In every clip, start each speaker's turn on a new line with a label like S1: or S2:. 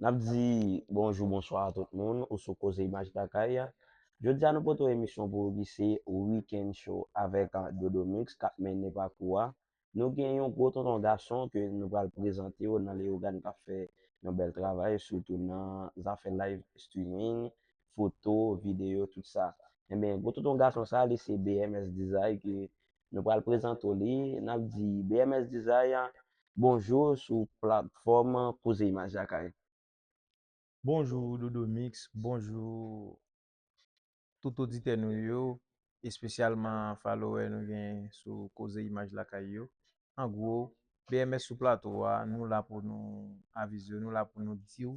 S1: Nap di bonjou bonswa a tout moun ou sou koze imaj lakay. Jodia nou pote yon emisyon pou ou ki se Weekend Show avèk Dodo Mix kap mennen pakou a. Nou gen yon gwo tonton gason ke nou pral prezante ou nan Leogane kap fè yon bèl travay sitou nan zafè live streaming, foto, video tout sa. Enben gwo tonton gason sa li se BMS Dizay ke Nou pral prezante w li. N ap di BMS Dizay bonjou sou platfòm Koze Imaj Lakay.
S2: Bonjou Dodomix, bonjou tout oditè nou yo, espesyalman falowè nou gen sou Koze Imaj Lakay yo. An gwo, BMS sou plato a, nou la pou nou avize w, nou la pou nou di w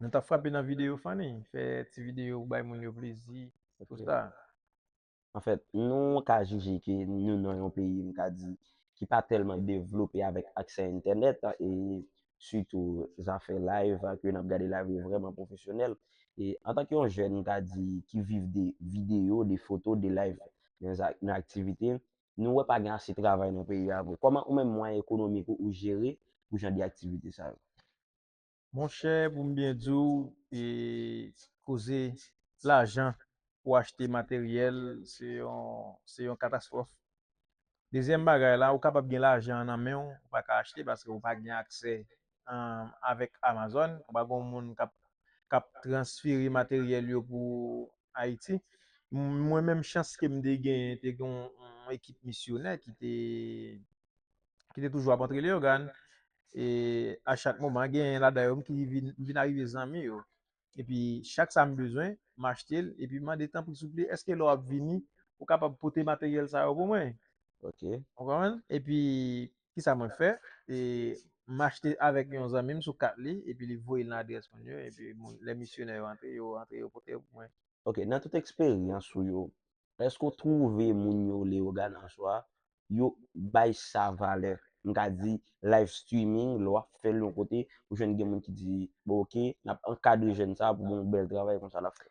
S2: Nou ta frape nan videyo Fanny, fè ti videyo pou bay moun yo plezi, tout sa. Anfèt,
S1: nou ka jije ke nou nan yon peyi, m ka di, ki pa tèlman devlope avèk aksè entènèt e sitou zafè live a, ke n ap gade live yo vrèman pwofesyonèl. E antanke yon jèn, m ka di, ki viv de videyo, de foto, de live nan aktivite, nou wè pa gen ase travay nan peyi a vre. Kòman ou menm mwayen ekonomik ou jere pou jan de aktivite sa yo?
S2: Monchè pou m byen di w koze lajan pou achte materyèl se yon katastwòf. Dezyèm bagay la ou kapab gen lajan an nan men w ou pa ka achte paske ou pa gen aksè avèk Amazon, ou pa gen yon moun k ap transfere materyèl yo pou Ayiti. Mwen menm chans ke m te genyen te gen yon ekip misyonè ki te ki te toujou ap antre Leyogàn, e a chak moman genyen ladan yo m ki vin m vin arive zanmi yo, epi chak sa m bezwen m achte l epi m mande tanpri souple èske lè w ap vini ou kapab pote materyèl sa yo pou mwen, ou
S1: konprann, epi
S2: kisa mwen fè e m achte avèk yon zanmi m sou kat li epi li voye l nan adrès moun yo epi moun lè misyonè yo antre yo antre yo pote yo pou mwen. Ok, nan tout
S1: eksperyans ou yo, èske w twouve moun yo Leyogàn answa yo bay sa valè. M ka di live streaming lè w ap fè l yon kote ou jwenn gen moun ki di bon ok n ap ankadre jèn sa pou gon bèl travay konsa l ap fè.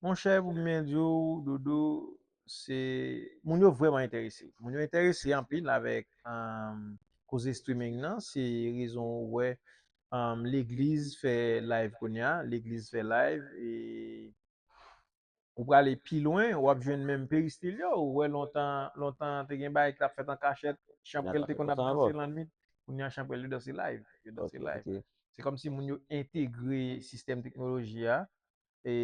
S1: Monchè pou
S2: m byen di w Dodo se moun yo vrèman enterese. Moun yo enterese anpil avèk koze streaming nan se rezon ou wè legliz fè live kounya legliz fè live e Ou prale pi lwen, ou ap jwenn menm peristil yo, ou wè lontan, lontan te gen bagay ki tap fèt an kachèt, chanprèl te konn ap
S1: danse lannwit, kounye a
S2: chanprèl yo danse live, yo danse live.
S1: Se
S2: kòm si moun
S1: yo
S2: entegre sistèm teknoloji a, e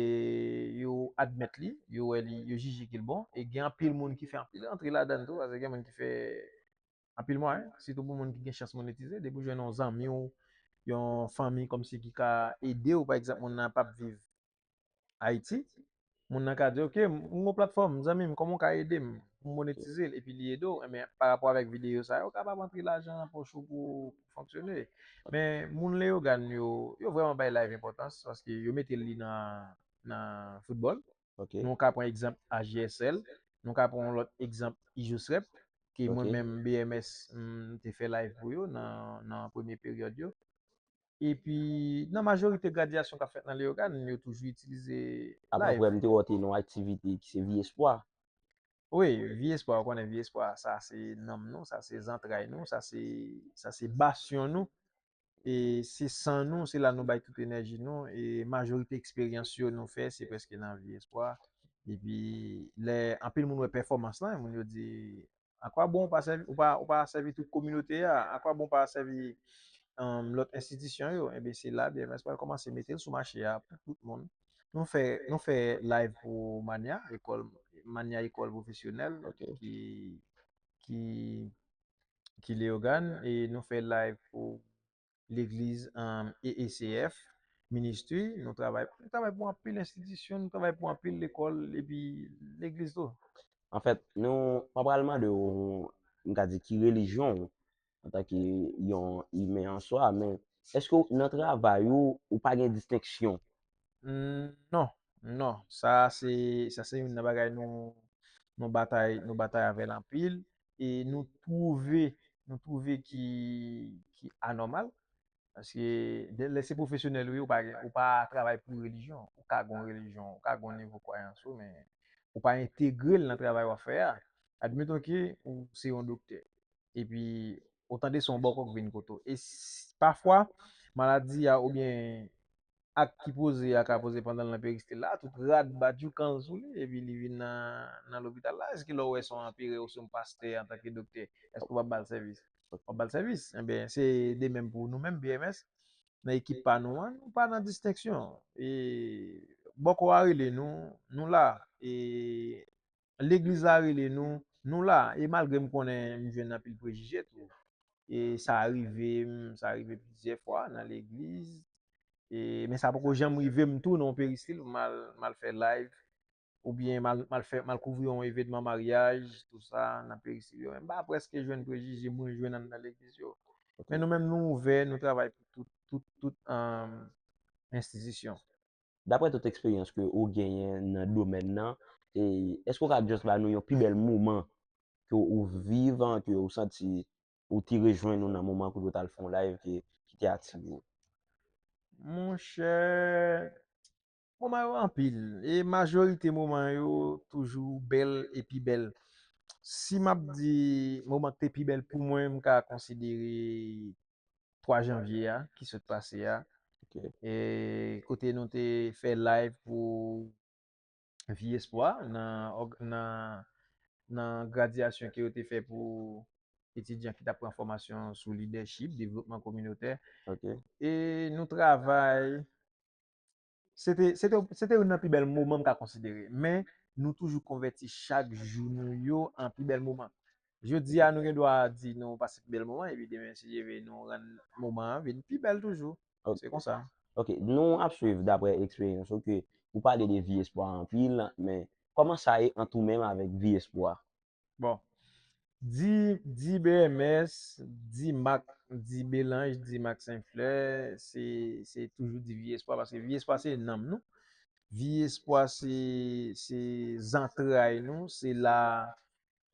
S2: yo admèt li, yo wè li, yo jije ke l bon, e gen anpil moun ki fè anpil rantre ladann tou, paske gen moun ki fè anpil mwayen, sitou pou moun ki gen chans monetize, depi w jwenn yon zanmi w, yon fanmi kòm si ki ka ede w, pa egzanp moun nan pap viv Ayiti, moun nan ka di ok m gen yon platfòm zanmi m kòman w ka ede m pou m monetize l epi li
S1: ede w
S2: men pa rapò avèk videyo sa yo kapab antre lajan nan pòch ou pou w fonksyone men moun Leyogàn yo yo vrèman bay live enpòtans paske yo mete li nan nan foutbòl nou ka pran
S1: egzanp
S2: AJSL nou ka pran yon lòt egzanp Ijosrep ke mwen menm BMS m te fè live pou yo nan nan premye peryòd yo. E pi nan majorite gradyasyon k ap fèt nan Leyogàn, yo toujou itilize layv. Apa frè, m te wè w te nan yon aktivite
S1: ki se Vye Espwa. Wi,
S2: Vye Espwa, ou konnen Vye Espwa, sa se nanm nou, sa se zantray nou, sa se, sa se basyon nou. E se san nou, se la nou bay tout enèji nou. E majorite eksperyans yo nou fè, se prèske nan Vye Espwa. E pi lè anpil moun wè pèfòmans lan, moun yo di, A kwa bon ou pa sèvi tout kominote a? A kwa bon ou pa sèvi lòt enstitisyon yo? Enben se la BMS pral kòmanse mete l sou mache a pou tout moun. Nou fè nou fè live pou Manya, ekòl Manya ekòl pwofesyonèl
S1: ki
S2: ki ki Leyogàn e nou fè live pou legliz EECF, ministri, nou travay pou anpil enstitisyon, nou travay pou anpil lekòl, epi legliz tou. An fèt, nou,
S1: mwen pral mande ou, mwen ka di ki relijyon ou, an tan ki yon imen an swa, men, eske ou nan travay ou, ou pa gen distenksyon?
S2: Non, non, sa se, sa se yon nan bagay nou, nou batay, nou batay avèl anpil, e nou twouve nou twouve ki ki anòmal paske de lè se pwofesyonèl ou ye ou pa gen ou pa travay pou relijyon ou ka gon relijyon ou ka gon nivo kwayans ou men ou pa entegre l nan travay wap fè a admeton ke ou se yon doktè epi ou tande son bòkò k vin kote w e pafwa maladi a oubyen ak ki poze a ka poze pandan l nan peristil la, tout rad bat joukan l sou li epi li vin nan lopital la, èske lè w wè se yon anperè osnon pastè antanke doktè, èske w pa ba l sèvis? W ap ba l sèvis. Enben, se de menm pou nou menm BMS, nan ekip pa nou an, nou pa nan distenksyon. E bòkò a rele nou, nou la. E Legliz la rele nou, nou la. E malgre m konnen m jwenn anpil prejije tou. E sa rive m, sa rive plizyè fwa nan legliz. E men sa poko janm rive m tou nan yon peristil pou m al, m al fè live. Oubyen m al, m al fè, m al kouvri yon evenman maryaj, tou sa, nan peristil yo. M pa prèske jwenn prejije mwen jwenn anndan nan legliz yo. Men nou menm
S1: nou
S2: ouvè, nou travay pou tout, tout, tout enstitisyon.
S1: Daprè tout eksperyans ke ou genyen nan domèn nan, èske ou ka just ba nou yon pi bèl moman ke ou viv, ke ou santi ou te rejwenn ou nan moman kote ou t al fè yon live ki te ative ou?
S2: Monchè, moman yo anpil e majorite moman yo toujou bèl e pi bèl. Si m ap di moman ki te pi bèl pou mwen, m ka konsidere 3 janvye a ki sot pase a e kote nou te fè live pou Vi Espwa nan gradyasyon ke yo te fè pou etidyan ki tap pran fòmasyon sou lidèchip, devlopman kominotè e
S1: nou
S2: travay Se te, se te, se te youn nan pi bèl moman m ka konsidere. Men, nou toujou konvèti chak jou nou yo an pi bèl moman. Jodi a, nou gen dwa di nou pase pi bèl moman, epi demen, si Dye ve, nou rann moman an vin pi bèl toujou. Ok. Se konsa.
S1: Ok.
S2: Nou ap
S1: swiv dapre eksperyans ou ke ou pale de vi espwa anpil, men, kòman sa ye ant ou menm avèk vi espwa? Bon.
S2: Di, di BMS, di Mak, di Belanj, di Mak Senflè, se, se toujou di Vye Espwa, paske Vye Espwa se nanm nou. Vye Espwa se, se zantray nou, se la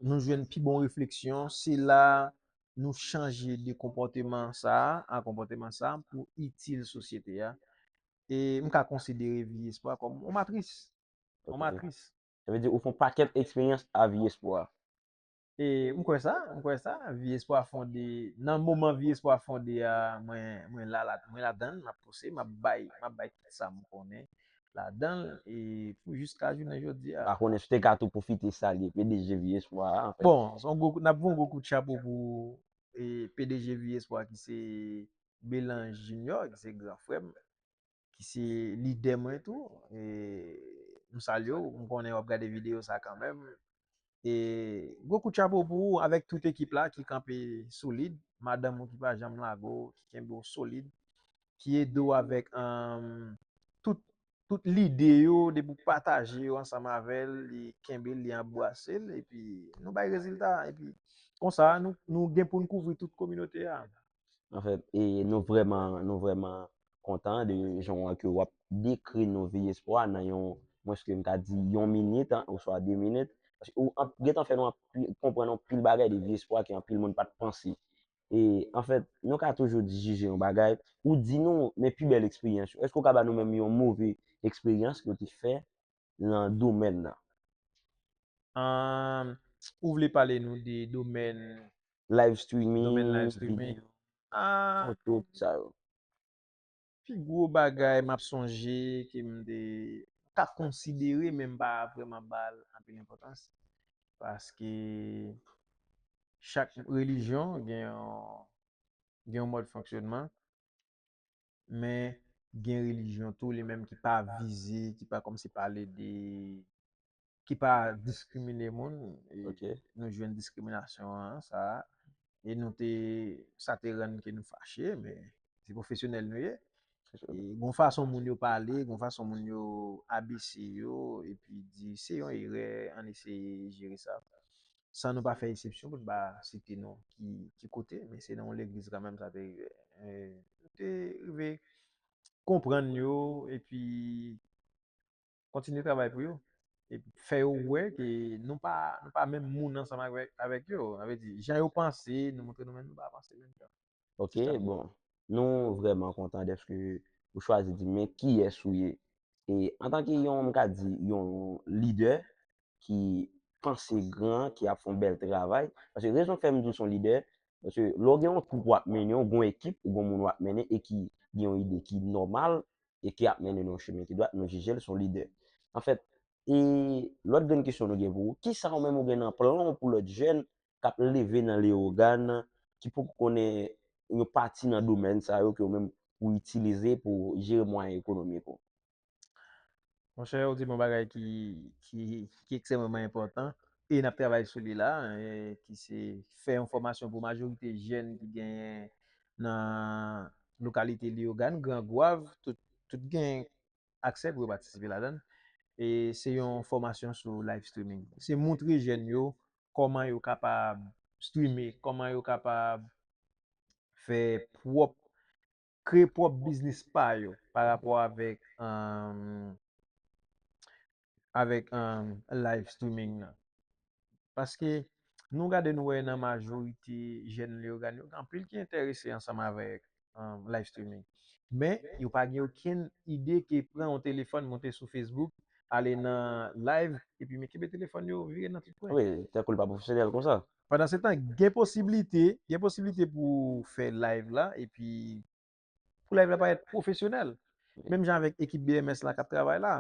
S2: nou jwenn pi bon refleksyon, se la nou chanje de konpòteman sa a, a konpòteman sa a pou itil sosyete a. E m ka konsidere Vye Espwa kòm yon matris. Yon matris. Sa vle di ou fè yon
S1: pakèt eksperyans a Vye Espwa. E
S2: m kwè sa, m kwè sa. Vye Espwa fonde, nan moman Vye Espwa fonde a, mwen, mwen la, mwen ladan l, m ap pouse, m ap bay, m ap bay tout sa m konnen ladan l e pou jiska jounen jodi a. M pa konnen si w te ka tou
S1: pwofite salye pdg Vye Espwa a anfen. Bon, s on gwo, n ap voye yon gwo
S2: kout chapo pou pdg Vye Espwa ki se Belan Jinyò, ki se gran frè m. ki se lidè mwen tou, e m salye w, m konnen w ap gade videyo sa kanmenm. E gwo kout chapo pou ou avèk tout ekip la ki kanpe solid, madanm ou ki pa janm lago w, ki kenbe w solid, ki ede w avèk tout lide yo depi ou pataje yo ansanm avè l, li kenbe l, li anbwase l, epi nou bay rezilta. Epi konsa nou gen pou n kouvri tout kominote a. Anfèt, e
S1: nou vrèman, nou vrèman kontan de jan an ke wap dekri nou Viy Espwa nan yon, mwens ke m ta di yon minit an, oswa de minit. Paske ou an, gen tan fè nou anpi, konprann anpil bagay de Viy Espwa ke anpil moun pa t panse. E, anfèt, nou ka toujou di, jije yon bagay, ou di nou, men pi bèl eksperyans yo. Èske ou ka ba nou menm yon move eksperyans ke ou te fè lan domèn nan. Aah
S2: ou vle pale nou de domèn.
S1: Live streaming. Domèn live
S2: streaming. Video.
S1: Aah.
S2: Foto tout sa yo. Pi gwo bagay map sonje ke m te ka konsidere men m pa vreman bal anpil enpotans. Paske chak relijyon gen yon gen yon mòd fonksyonman. Men gen relijyon tou li menm ki pa vize, ki pa kòmsi pale de, ki pa diskrimine moun. Ok. Nou
S1: jwenn
S2: diskriminasyon an sa a. E nou te, sa te rann ke nou fache, men se pwofesyonèl nou ye. E gon fason moun yo pale, gon fason moun yo abese yo, epi di se yon erè, ann eseye jere sa. San nou pa fè esepsyon pou n pa site non ki kote, men se nan yon legliz kanmenm sa te rive. Nou te rive konprann yo epi kontinye travay pou yo. Epi fè yo wè ke nou pa menm moun ansanm avèk yo. Sa vle di, jan yo panse, nou montre nou menm nou pa panse menm jan. Ok, bon, nou
S1: vreman kontan deske ou chwazi di men ki es ou ye. E antan ki yon m ka di yon lidè ki panse gran, ki ap fon bel travay. Paske rezon k fè m di w son lidè, paske lè w gen yon twoup w ap mennen, ou gen yon ekip, ou gen yon moun w ap mennen e ki gen yon ide ki nòmal e ki ap mennen nan yon chemen ki dwat, nou jije l son lidè. Anfèt, e lòt grenn kesyon nou gen pou ou, kisa ou menm ou gen nan plan w pou lòt jèn k ap leve nan Leyogàn ki poko konnen yon pati nan domèn sa yo ke ou menm ou itilize pou w jere mwayen ekonomik ou?
S2: Monchè, ou di m yon bagay ki ki ekstrèmeman enpòtan e n ap travay sou li la, ki se fè yon fòmasyon pou majorite jèn ki genyen nan lokalite Leyogàn, Gran Gwav, tout tout gen aksè pou yo patisipe ladan l. E se yon fòmasyon sou live streaming. Se montre jèn yo kòman yo kapab streame, kòman yo kapab fè pwòp, kreye pwòp biznis pa yo pa rapò avèk, avèk live streaming nan. Paske nou gade nou wè nan majorite jèn Leyogàn yo, gen anpil ki entèrese ansanm avèk um, live streaming. Men, yo pa gen okenn ide ke pran yon telefòn monte sou Facebook, ale nan live, epi men kenbe telefòn yo vire nan tout kwen. Wi, tankou l pa pwofesyonèl
S1: konsa. Pandansetan, gen
S2: posiblite, gen posiblite pou w fè live la epi pou live la parèt pwofesyonèl. Menm jan avèk ekip BMS la k ap travay la.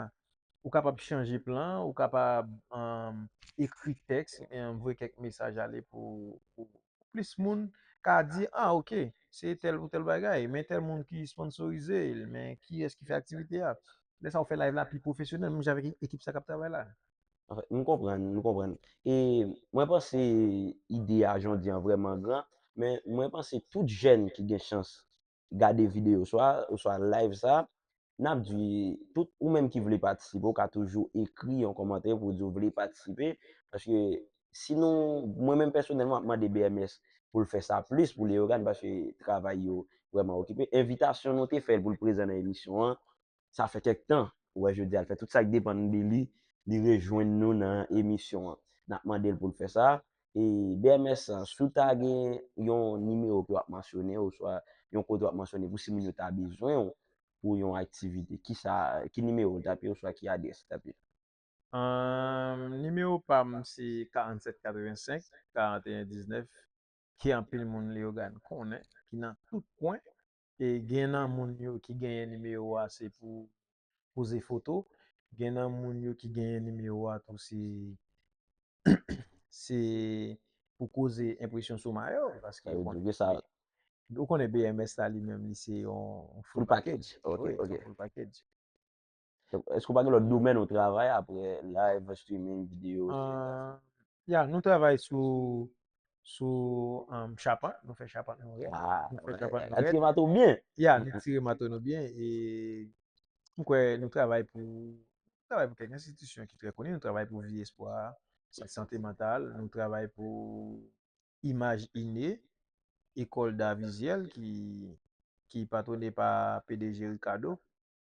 S2: Ou kapab chanje plan, ou kapab um, ekri tèks, um, voye kèk mesaj ale pou, pou, pou plis moun ka di ah ok se tèl pou tèl bagay men tèl moun ki sponsorize l men kiyès ki fè aktivite a lè sa ou fè live la pi pwofesyonèl menm jan avèk ekip sa k ap travay la. Anfen, m
S1: konprann, m konprann. E mwen panse ide a jan w di an vrèman gran, men mwen panse tout jèn ki gen chans gade video sa a oswa live sa a, n ap di tout ou menm ki vle patisipe, ou ka toujou ekri yon kòmantè pou di ou vle patisipe. Paske si nou, mwen menm pèsonèlman m ap mande BMS pou l fè sa plis pou Leyogàn paske travay yo vrèman okipe. Envitasyon nou te fè l pou l prezan nan emisyon an. sa fè kèk tan ou wè jodi a l fè tout sa k depann de li li rejwenn nou nan emisyon an n ap mande l pou l fè sa e bms si w ta gen yon nimewo ke w ap mansyone oswa yon kote w ap mansyone pou si moun yo ta bezwen w pou yon aktivite ki sa ki nimewo l t ap ye oswa ki adrès li t ap ye. Humm nimewo
S2: pam se 47 85 41 19 ke anpil moun Leyogàn konnen ki nan tout kwen e gen nan moun yo ki genyen nimewo a se pou poze foto, gen nan moun yo ki genyen nimewo a tou se se pou koze enpresyon sou mayo paske ou konnen sa
S1: ou konnen
S2: BMS la li menm li se yon full package ok ok full
S1: package. Eske ou pa gen lòt domèn ou travay apre live streaming video? Ya,
S2: nou travay sou sou chapant, nou fè chapant nou rèd. Nou fè chapant nou rèd.
S1: Atire mato
S2: ou byen? Ya, nou
S1: tire mato
S2: nou byen e m kwè nou travay pou nou travay pou kèk enstitisyon ki trè koni, nou travay pou Vi Espwa, sant sante mantal, nou travay pou Imaj Ine, Ecole d'art visuel ki patwone pa pdg Ricardo.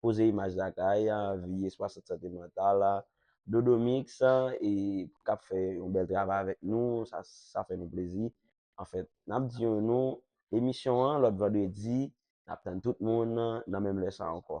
S1: Poze imaj lakay, anvi espwa sant sante mantal la. Dodo Mix e kap fè yon bèl travay avèk nou, sa sa fè nou plezi. Anfèt, nap di yon nou emisyon an lòt vandredi, nap tann tout moun nan menm lè sa ankò.